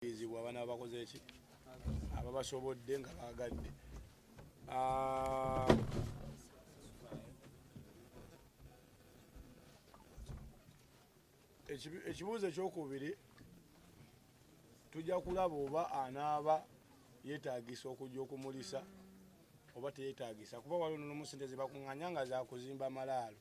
bakubirizibwa abana bakoze ki ababasobodde nga baagadde ah, ekibuuzo ekyokubiri tujja kulaba oba anaaba yetagisa okujja okumulisa oba teyetagisa kuba waliwo nomusente zebakunganya nga zakuzimba malaalo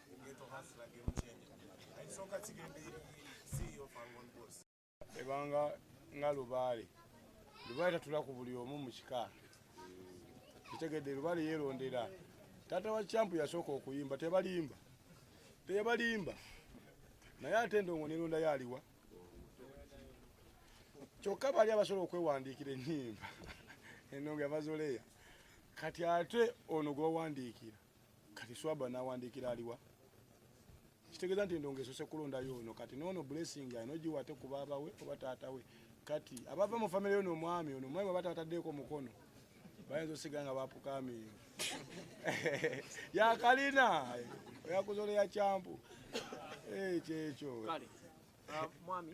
ebanga nga lubaale lubaale tatula ku buli omu mu kika kitegedde lubaale yeerondera taata wa campu yasooka okuyimba tebalimba tebalimba naye ate endongo neronda yaliwa kyokka bali abasobola okwewandiikira ennyimba endongo yabazoleya kati ate ono gwewawandiikira kati swaba nawandikira aliwa kitegeeza nti endongo esose kulondayo ono kati noono blessing alina ogiwa ate ku baaba we oba taata we kati abava mu famiry yo nomwami ono omwami aba taataddeeko mukono bayinza osiga nga bapukamiyo yakalina oyakuzola ya kyampu eh, kyekyo ah, mwami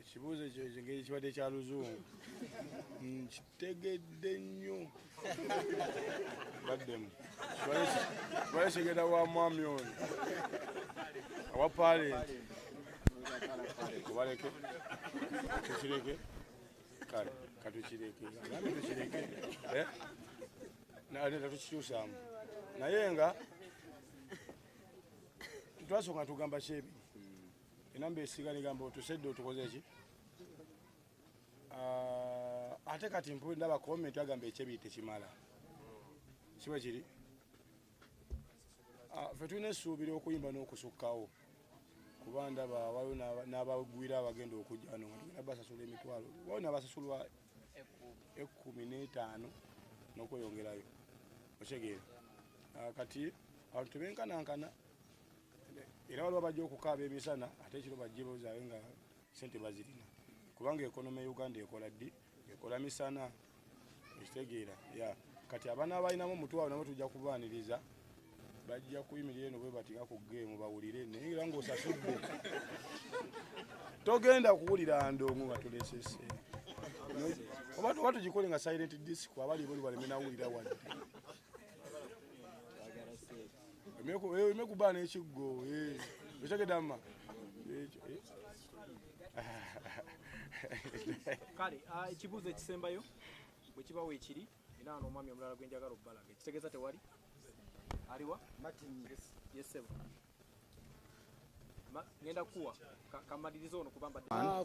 ekibuuzo ekyo engeri kibadde kya luzungu nkitegedde nnyo baddemu kibadde kigenda wa mwami oyo awa palenti kubaleke tukireke kale katukireke nami tukireke eh? naleta tukikyusaamu naye nga twasooka tugamba kyebi enamba esiga negamba otusedde otukoze ki ah, ate kati mpu ndaba comment agamba ekyebi tekimala kiba kiri ah, fe tulina esuubira okuyimba n'okusukkawo kuba ndaba waliwo n'abagwira abagenda okujja wano nga tugenda basasula emitwalo waliwo nabasasulwa ekkumi n'etaano n'okweyongerayo okitegeera ah, kati abantu tebenkanankana era waliwo bajja okukaaba emisana ate ekiro bajje bozaayo nga sente bazirina kubanga ekonoma e uganda ekola ddi ekola misana ekitegeera ya kati abaana balinamu omutwalo nabo tujja kubaaniriza bajja kuyimirira eno bwebatinga ku geemu bawulire naye era ngaosasudde togenda kuwulira ndongo nga tulesese oba tuba tugikole nga silent disc abali boli baleme nawulira wadde emekuba nekiggo otegede ama kale ah, ekibuuzo ekisembayo bwekibawo ekiri era ano omwami omulala gwenjagala okubalaga ekitegeeza tewali aliwa yesebo ngenda kuwa kamaliriza ono kubamba ah,